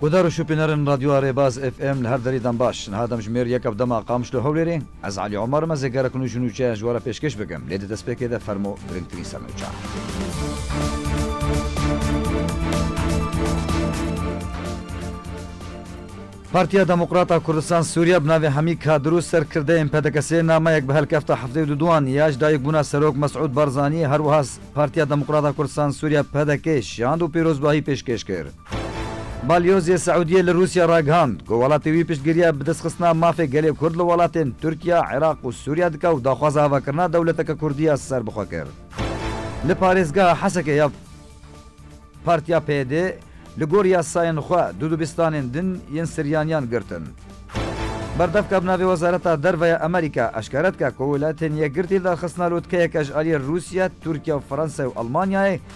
Guhdar û şopînerên Radyoya Rêbaz FM li her derî dem baş. Niha demjimêr yek ev dema Qamiş li Hewlêrê. Ez Elî Omar me zê gerek nûç û nûçe ji we re pêşkêş bikim. Lê di destpêkê de fermo giringtirîn sernûçan. Partiya Demokrat a Kurdistan Sûriya bi navê Hemî Kadir û serkirdeyên PDKS'ê nameyek bi helkefta heftê û du duan ya ji dayikbûna Serok Mesûd Barzanî her wiha Partiya Demokrat a Kurdistan Sûriya, PDK'ê, şand û pîrozbahî pêşkêş kir. Balyozê Siûdiyê li Rûsya ragihand ku welatê wî piştgiriya bidestxistina mafê gelê Kurd li welatên Tirkiya, Iraq û Sûriya dike û daxwaza avakirina dewleteke Kurdî ya ser bi xwe kir. Li parêzgeha Hesekê ya Partiya PYD li gor yasayên xwe du dibistanên din yên Siryaniyan girtin. Berdevka bi navê Wezareta Derve ya Amerîka eşkere dike ku Welatên Yekgirtî li darxistina lotkeyeke ji aliyê Rûsya, Tirkiya, Fransayê û Elmanyayê,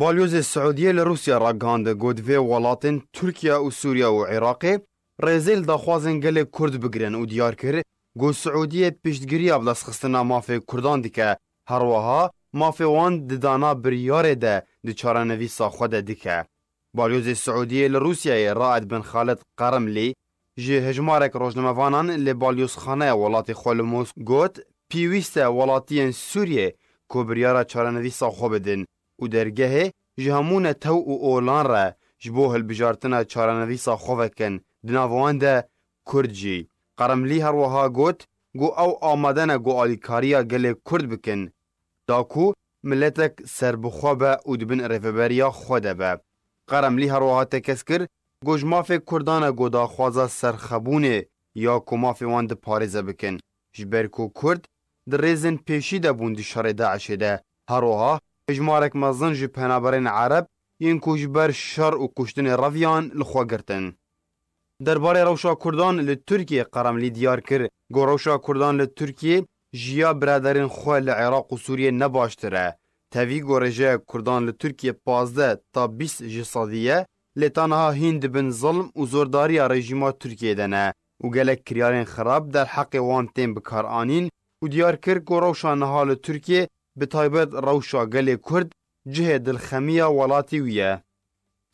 Balyozê Siûdiyê li Rûsya ragihandin ku divê welatên Tirkiye û Sûriye û Iraqê rêzê li daxwazên gelê Kurd bigirin û diyar kir ku Siûdiyê piştgiriya bidestxistina mafê Kurdan dike, herwiha mafê wan di dana biryarê de di çarenivîsa xwe de dike. Balyozê Siûdiyê li Rûsyayê Raed bin Xalid Qarimlî Ji hejmarek rojnamevanan li balyozxaneya welatê xwe li Mosk got, Pîwîst e welatiyên Sûriyê ku biryara çarenivîsa xwe bidin û dergehê ji hemû netew û olan re ji bo hilbijartina çarenivîsa xwe vekin, di nav wan de Kurd jî. Qeremlî her wiha got ku ew amade ne ku alîkariya gelê Kurd bikin da ku miletek serbixwe be û di bin rêveberiya xwe de be. Qeremlî her wiha tekez kir Ku ji mafê Kurdan e ku daxwaza serxwebûnê ya ku mafê wan di parêze bikin. Ji ber ku Kurd di rêzên pêşî de bûn di şerê DAIŞ'ê de. Her wiha hejmarek mezin ji penaberên Ereb yên ku ji ber şer û kuştinê reviyan li xwe girtin. Derbarê rewşa Kurdan li Tirkiyê Qeremlî diyar kir ku rewşa Kurdan li Tirkiyê ji ya biraderên xwe li Iraq û Sûriyê ne baştir e. Tevî gorê ji Kurdan li Tirkiyê pazdeh ta bîst ji sedî ye Lê ta niha hîn di bin zilm û zordariya rejîma Tirkiyeyê de ne û gelek kiryarên xerab derheqê wan tên bikaranîn û diyar kir ku rewşa niha li Tirkiyê bi taybet rewşa gelê Kurd cihê dilxemiya welatî wî ye.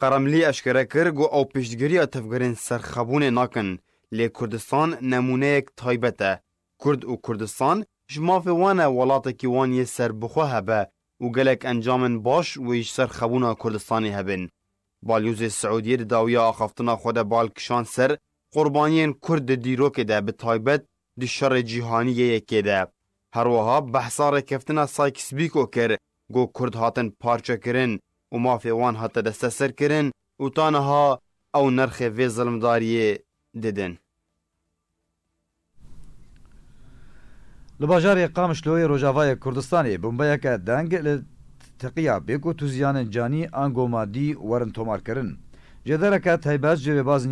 Qeremlî eşkere kir ku ew piştgiriya tevgerên serxebûnê nakin, lê Kurdistan nemûneyek taybet e. Kurd û Kurdistan ji mafê wan e welatekî wan yê serbixwe hebe û gelek encamên baş wê ji ser xebûna Kurdistanê hebin. Balyozê Siûdiyê di dawiya axaftina xwe de bal kişand ser qurbaniyên Kurd di dîrokê de bi taybet di şerê cîhanî yê yekê de. Her wiha behsa rêkeftina Sykes-Bîko kir ku Kurd hatin parçekirin û mafê wan hate desteserkirin û ta niha ew nirxê vê zilmdariyê didin. Li bajarê Qamişloyê Rojavayê Kurdistanê bombeyeke deng li teqiya bê ku tu ziyanên canî an ku madî werin tomar kirin. Cêdereke taybet ji Rêbaz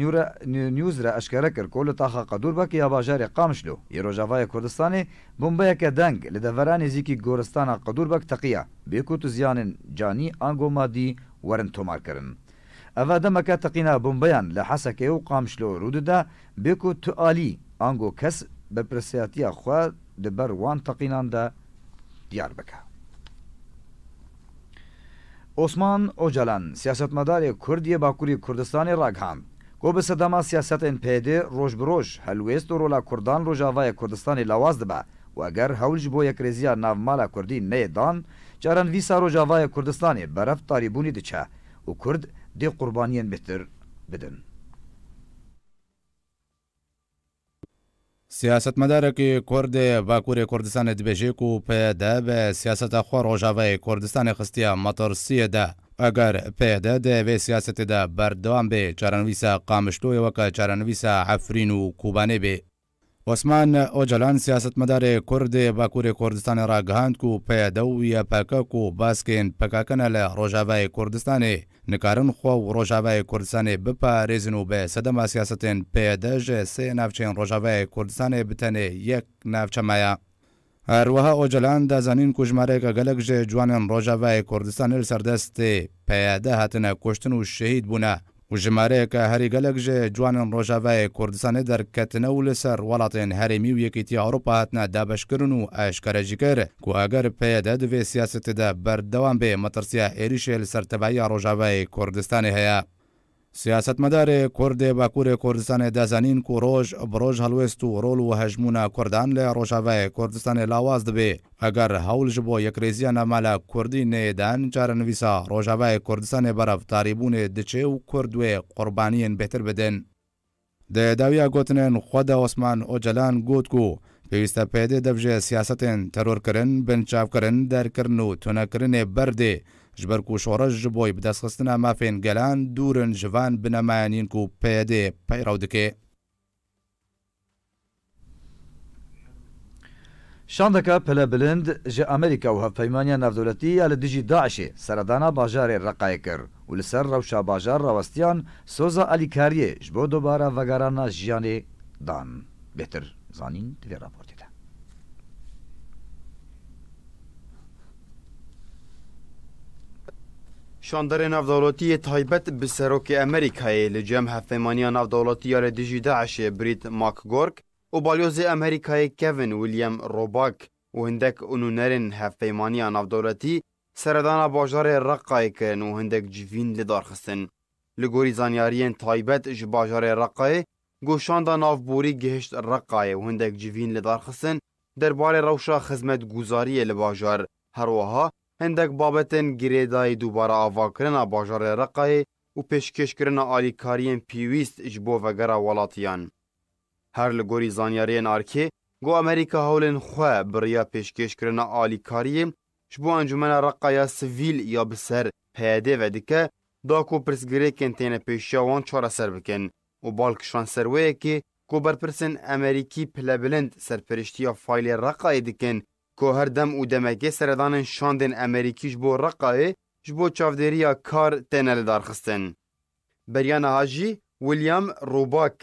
News re eşkere kir ku li taxa Qedûrbek ya bajarê Qamişlo yê Rojavayê Kurdistanê bombeyeke deng li devera nêzîkî goristana Qedûrbek teqiya bê ku tu ziyanên canî an ku madî werin tomar kirin. Eva demeke teqîna bombeyan li Hesekê û Qamişlo rû dide Bê ku tu alî, ango kes berpirsiyatiya xwe di ber wan teqînan de diyar bike. Osman Ocalan, siyasetmedarê Kurd yê Bakurî Kurdistanê ragihand ku bi sedema siyasetên PD roj bi roj helwêst û rola Kurdan Rojavayê Kurdistanê lawaz dibe û eger hewl ji bo yekrêziya navmala Kurdî neyê dan çarenvîsa Rojavayê Kurdistanê berevtarîbûnê diçe û Kurd dê qurbaniyên bêhtir bidin. Siyasetmedarekî kurd ê Bakurê Kurdistanê dibêje ku PYD bi siyaseta xwe rojavayê Kurdistanê xistiye metirsiyê de. Eger PYD di vê siyasetê de berdewam bê, çarenivîsa Qamişloyê weke çarenivîsa Efrîn û Kobanê bê. Osman Ocalan siyasetmedarê kurd ê Bakurê Kurdistanê ragihand ku peyede û ya pkk û baskên pkk ne li Rojavayê Kurdistanê nikarin xwe û Rojavayê Kurdistanê biparêzin û bi sedema siyasetên peyede ji sê navçeyên Rojavayê Kurdistanê bi tenê yek navçe maye. Her wiha Ocalan da zanîn ku ji marêka gelek ji ciwanên Rojavayê Kurdistanê li ser destê PYD hatine kuştin û şehîd bûne û ji marêka herî gelek ji ciwanên Rojavayê Kurdistanê derketine û li ser welatên herêmî û Yekîtiya Ewropa hatine dabeşkirin û eşkere jî kir ku eger PYD di vê siyasetê de berdewam bê, metirsiya êrîşê li ser tevahiya Rojavayê Kurdistanê heye. Siyasetmedarê Kurd ê Bakurê Kurdistanê da zanîn ku roj bi roj helwêst û rol û hejmûna Kurdan li Rojavayê Kurdistanê lawaz dibê. Eger hewl ji bo yekrêziya navmala Kurdî neyê dan çarenivîsa Rojavayê Kurdistanê berev tarîbûnê diçê û Kurd wê qurbaniyên bêhtir bidin. Di dawiya gotinên xwe de Osman Ocalan got ku pêwîste PYD dev ji siyasetên terorkirin, binçavkirin, derkirin û tunekirinê berdê ji ber ku şoreş ji bo bidestxistina mafên gelan dûr in ji van binemayan yên ku PYD peyrew dike. Şandeka pilebilind ji Amerîka û Hevpeymaniya Navdewletî ya li dijî DAIŞ'ê seredana bajarê Reqayê kir û li ser rewşa bajar rawestiyan soza alîkariyê ji bo dubare vegerana jiyanê dan. Bêhtir zanîn di vê raportê de. Şandarê Navdewletî yê taybet bi Serokê Amerîkayê li cem Hevpeymaniya Navdewletî ya li dijî DAIŞ'ê Brît McGurk û Balyozê Amerîkayê Kevin William Roback û hindek nûnerên Hevpeymaniya Navdewletî seredana bajarê Reqqayê kirin û hindek civîn lidar xistin. Li gorî zanyariyên taybet ji bajarê Reqqayê, goşanda navborî gihişt Reqqayê û hindek civîn lidar xistin der barê rewşa xizmetguzariyê li bajar, her wiha hindek babetên girêdayî dubare avakirina bajarê Reqayê û pêşkêşkirina alîkariyên pîwîst ji bo vegera welatiyan. Her li gorî zanyariyên arkê, got Amerîka hewlên xwe biriya pêşkêşkirina alîkariyê ji bo encûmena Reqa ya sivîl ya bi ser PYD ve dike da ku pirsgirêkên têne pêşiya wan çareser bikin û bal kişand ser wê yekê Ku berpirsên Amerîkî pilebilind serpiriştiya faylê Reqayê dikin, ku her dem û demekê seredanên şandên Amerîkî ji bo Reqayê ji bo çavdêriya kar têne lidarxistin. Beriya niha jî William Roback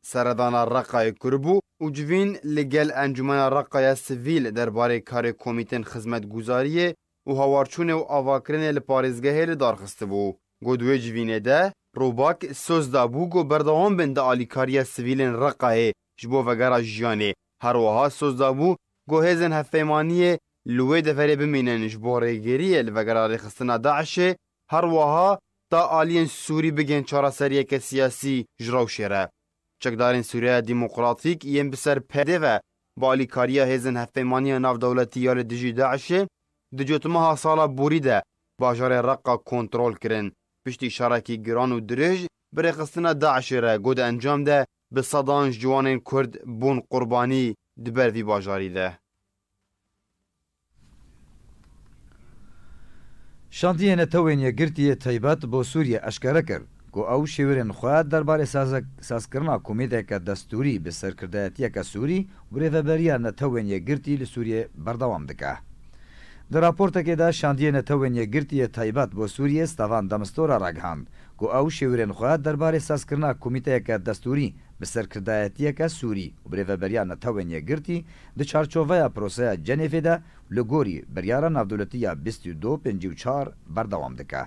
seredana Reqayê kiribû û civîn li gel Encûmena Reqaya Sivîl derbarê karê komîtên xizmetguzariyê û hawarçûnê û avakirinê li parêzgehê li dar xistibû. Got di wê civînê de Rûbak soz dabû ku berdewam bin di alîkariya sivîlên Reqayê ji bo vegera jiyanê, her wiha soz dabû ku hêzên hevpeymaniyê li wê deverê bimînin ji bo rêgiriyê li vegera rêxistina DAIŞ'ê, her wiha da aliyên Sûrî bigihên çareseriyeke siyasî ji rewşê re. Çekdarên Sûriyeya Demokratîk yên bi ser PYD'ê ve bi alîkariya hêzên Hevpeymaniya Navdewletî ya li dijî DAIŞ'ê di cotmeha sala borî de bajarê Reqqa kontrol kirin. Piştî şerekî giran û dirêj bi rêxistina DAIŞ'ê re ku di encam de bi sedan ji ciwanên Kurd bûn qurbanî di ber vî bajarî de. Şandiyê Netewên Yekgirtî yê taybet bo Sûriyê eşkere kir ku ew şêwirên xwe derbarê sazkirina komîteke destûrî bi serkirdeyetiyeke Sûrî û rêveberiya Netewên Yekgirtî li Sûriyê berdewam dike. Di raportekê de Şandiyê Netewên Yekgirtî yê taybet bo Sûriyê Stavan de Mistura ragihand ku ew şêwirên xwe derbarê sazkirina komîteyeke destûrî bi serkirdeyetiyeke Sûrî û bi rêveberiya Netewên Yekgirtî Di çarçoveya proseya Cenêfê de li gorî biryara navdewletî ya bîst û du pêncî û çar berdewam dike.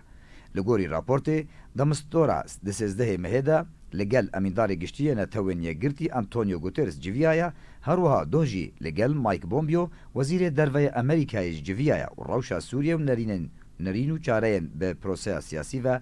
Li gorî raportê demistdora di sêzdehê mehê de li gel Emîndarê Giştî yê Netewên Yekgirtî Antonio Guterres civiyaye, herwiha doh jî li gel Mike Pompeo Wezîrê Derveyê Amerîkayê ji civiyaye û rewşa Sûriyê û nerînên nerîn û çareyên bi proseya siyasî ve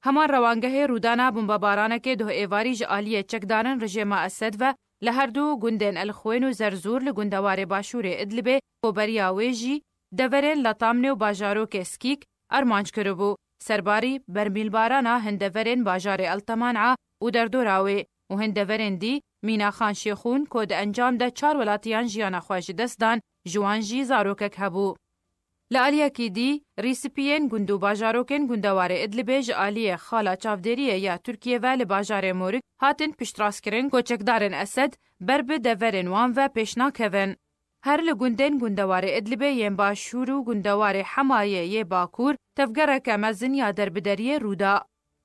Hema rewangehê rûdana bombebaranekê doh êvarî ji aliyê çekdarin rejêma Esed ve li her du gundên Elxwên û Zerzûr li gundewarê başûrê Idlibê ku beriya wê jî deverên Latamnê û bajarokê Skîk armanc kiribû, serbarî bermîlbarana hin deverên bajarê Elteman'a û derdora wê û hin deverên dî mîna Xan Şêxûn ku di encam de çar welatiyan jiyana xwe ji dest dan, ji wan jî zarokek hebû. Li aliyekî dî, Rîspiyên gund û bajarokên gundewarê Idlibê ji aliyê xala çavdêriyê ya Tirkiyê ve li bajarê Morik hatin piştrastkirin ku çekdarên Esed ber bi deverên wan ve pêş nakevin. Her li gundên gundewarê Idlibê yên başûr û gundewarê Hemayê yê bakûr tevgereke mezin ya derbederiyê rû da.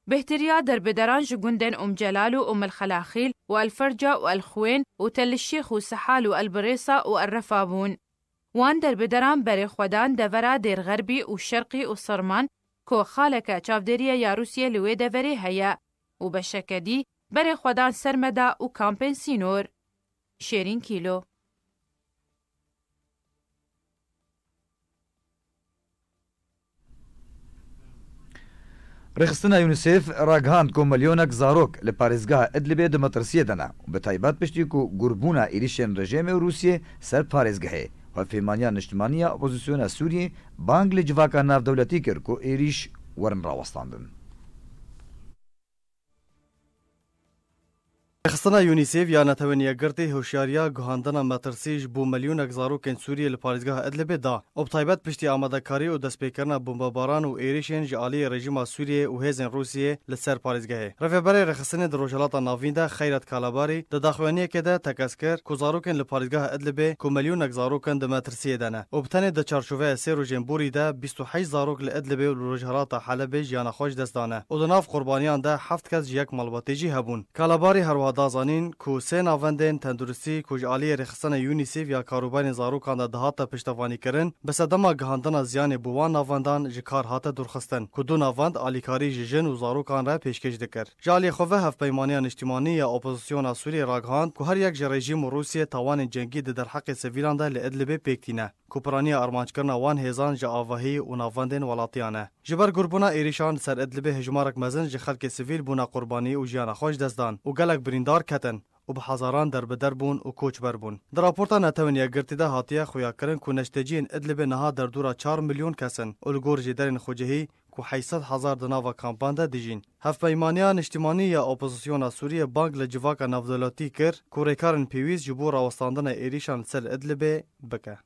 Bêhtirîya derbederan ji gundên Ûm Celal û Ûm El Xelaxîl û El Ferca û El Xuwên û Tel El Şêx û Sihal û El Birêsa û El Refa bûn. Wan derbederan berê xwe dan devera Dêrxerbî û Şerqî û Sirman ku xaleke çavdêrîye ya Rûsyê li wê deverê heye û beşeke dî berê xwe dan Sermeda û kampên sînor. Şêrîn Kîlo. Rêxistina Unicef ragihand ku milyonek zarok li parêzgeha Idlibê di metirsiyê de ne û bi taybet piştî ku gurbûna êrîşên rejêmê û Rûsyê ser parêzgehê Hevpeymaniya Niştimanî ya Opozîsyona Sûriyê bang li civaka navdewletî kir ku êrîş werin rawestandin. Rêxistina Yûnîsêf ya Netewên Yekgirtî hişyariya guhandina metirsî ji bo milyonek zarokên Sûriyê li parêzgeha Idlibê da û bi taybet piştî amadekarî û destpêkirina bombebaran û êrişên ji aliyê rejîma Sûriyê û hêzên Rûsiyê li ser parêzgehê. Rêveberê Rêxistinê di Rojhilata Navîn de Xeyret Kalabarî di daxuyaniyekê de tekez kir ku zarokên li parêzgeha Idlibê ku milyonek zarok in di Siyê de ne û bi tenê di çarçoveya sê rojên borî de bîst û heşt zarok li Idlibê û li rojhilata Helebê jiyana xwe ji dest dane û di nav qurbaniyan de heft kes ji yek malbatê jî hebûn. Kalabarî her wiha da zanîn ku sê navendên tenduristî ku ji aliyê rêxistina UNICEF ya karûbarên zarokan de dihate piştevanîkirin, bi sedema gihandina ziyanê bo wan navendan ji kar hate dûrxistin ku du navend alîkarî ji jin û zarokan re pêşkêş dikir. Ji aliyê xwe ve Hevpeymaniya Niştimanî ya Opozisyona Sûriyeyê ragihand ku her yek ji rejîm û Rûsiyê tawanên cengî di derheqê sivîlan de li Idlibê pêk tîne ku piraniya armancekirina wan hêzan ji avahî û navbendên welatiyan e. Ji ber gurbûna êrîşan li ser Idlibê hejmarek mezin ji xelkê sivîl bûne qurbanî û jiyana xwe ji dest dan û gelek birîndar ketin û bi hezaran derbider bûn û koçber bûn. Di raporta Netewên Yekgirtî de hatiye xuyakirin ku neşteciyên Idlibê niha derdora çar milyon kes in û li gor jêderên xwe cihî ku heyî sed hezar di nava kampan de dijîn. Hevpeymaniya Niştimanî ya Opozisyona Sûriyê bang li civaka navdewletî kir ku rêkarên pêwîst ji bo rawestandina êrîşan li ser Idlibê bike.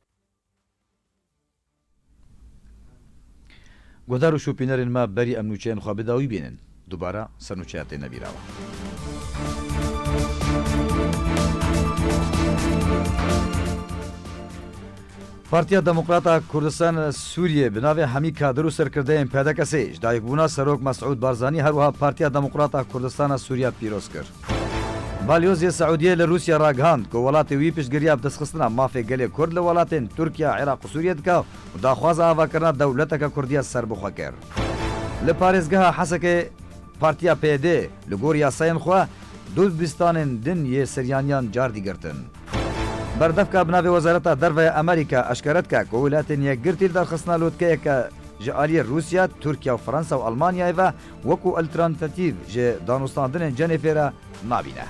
Guhdar û şopînerên me berî em nûçeyên xwe bi dawî bînin. Dubare ser nûçeya têne bîravan. Partiya Demokrat a Kurdistan a Sûriyê bi navê hemî kadir û serkirdeyên PDKS'ê ji dayikbûna Serok Mesûd Barzanî her wiha Partiya Demokrat a Kurdistan a Sûriya pîroz kir. Balyozê Siûdiyê li Rûsya ragihand ku welatê wî piştgiriya bidestxistina mafê gelê Kurd li welatên Tirkiye, Iraq û Sûriye dike û daxwaza avakirina dewleteke Kurdiya serbixwe kir. Li parêzgeha Hesekê Partiya PYD li gor yasayên xwe du dibistanên din yê siryaniyan cardî girtin. Berdevka bi navê Wezareta Derve ya Amerîka eşkere dike ku Welatên Yekgirtî li derxistina lotkeyeke ji aliyê Rûsya, Tirkiye û Fransa û Almanyayê ve, Wekû eltrantatîv ji danûstandinên Cenêfê re nabîne.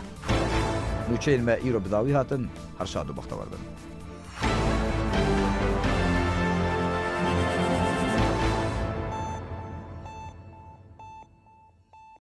Nûçeyên me îro bi dawî hatin her şad û bextewar bin.